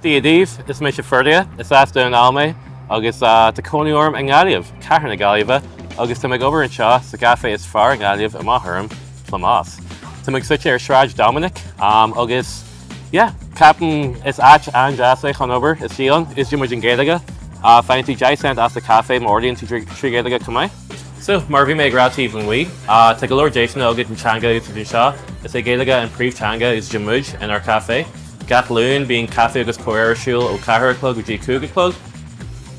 Dia daoibh, is mise Ferdia, is as Dún na nGall mé agus tá cónaí orm i nGaillimh, cathair na Gaillimhe, agus táim ag obair anseo sa gcaifé is fearr i nGaillimh, amach orm, Plámás. Tá muid suite ar Sráid Dominic agus yeah, ceapaim gur áit an-deas é chun obair, úsáideann, úsáideann muid an Ghaeilge. Faigheann tú deich cent as do chaife má ordaíonn tú trí Ghaeilge chomh maith. So, mar a bhí mé ag rá taobh amuigh, tá go leor deiseanna agat an teanga a úsáid anseo. Is é Gaeilge an príomhteanga a úsáideann muid inár caifé. Gach Luan, bíonn caife agus comhrá ar siúl ó ceathair a chlog go dtí a cúig a chlog.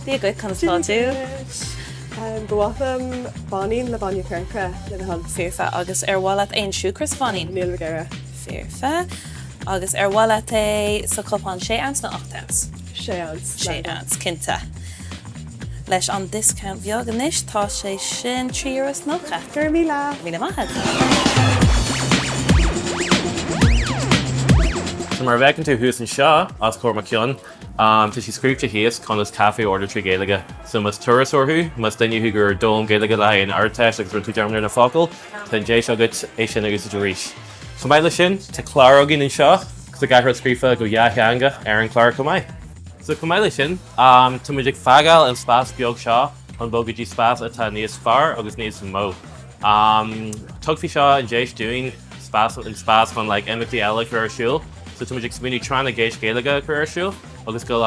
Dia dhuit, conas tá tú? Dia dhuit. Ba mhaith liom báinín le bainne coirce le do thoil. Foirfe. Agus ar mhaith leat aon siúcra sa bháinín? Níl mé ag iarraidh. Foirfe. Agus ar mhaith leat é sa chupán sé ounce nó ocht ounce? Sé ounce, más é. Sé ounce, cinnte. Leis an discount bheag anois tá sé sin trí euro is nócha. Go raibh míle! Míle maith agat. So mar a bhfeiceann tú thuas anseo, os comhair mo cheann, tá sé scríobhte thíos conas caife a ordú trí Ghaeilge. So más turasóir thú, más duine thú a d'fhoghlaim Gaeilge le haghaidh an Ardteist agus rinne tú dearmad ar na focail, tá an deis agat é sin a úsáid arís. Chomh maith le sin, tá clár againn anseo sa gcathair scríofa go dátheangach ar an clár chomh maith. So chomh maith le sin, tá muid ag fágáil an spás beag seo chun bogadh go dtí spás atá níos fearr agus níos mó. Tugfaidh seo an deis dúinn spás, an spás chun like imeachtaí eile a chur ar siúl. So tá muid ag smaoineamh Tráth na gCeist Gaeilge a chur ar siúl agus go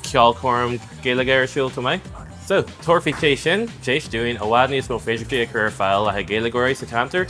ceolchoirm Gaeilge ar siúl chomh maith. So, tabharfaidh sé sin deis dúinn i bhfad níos mó féidearthachtaí a chur ar fáil le haghaidh Gaeilgeoirí sa cheantar.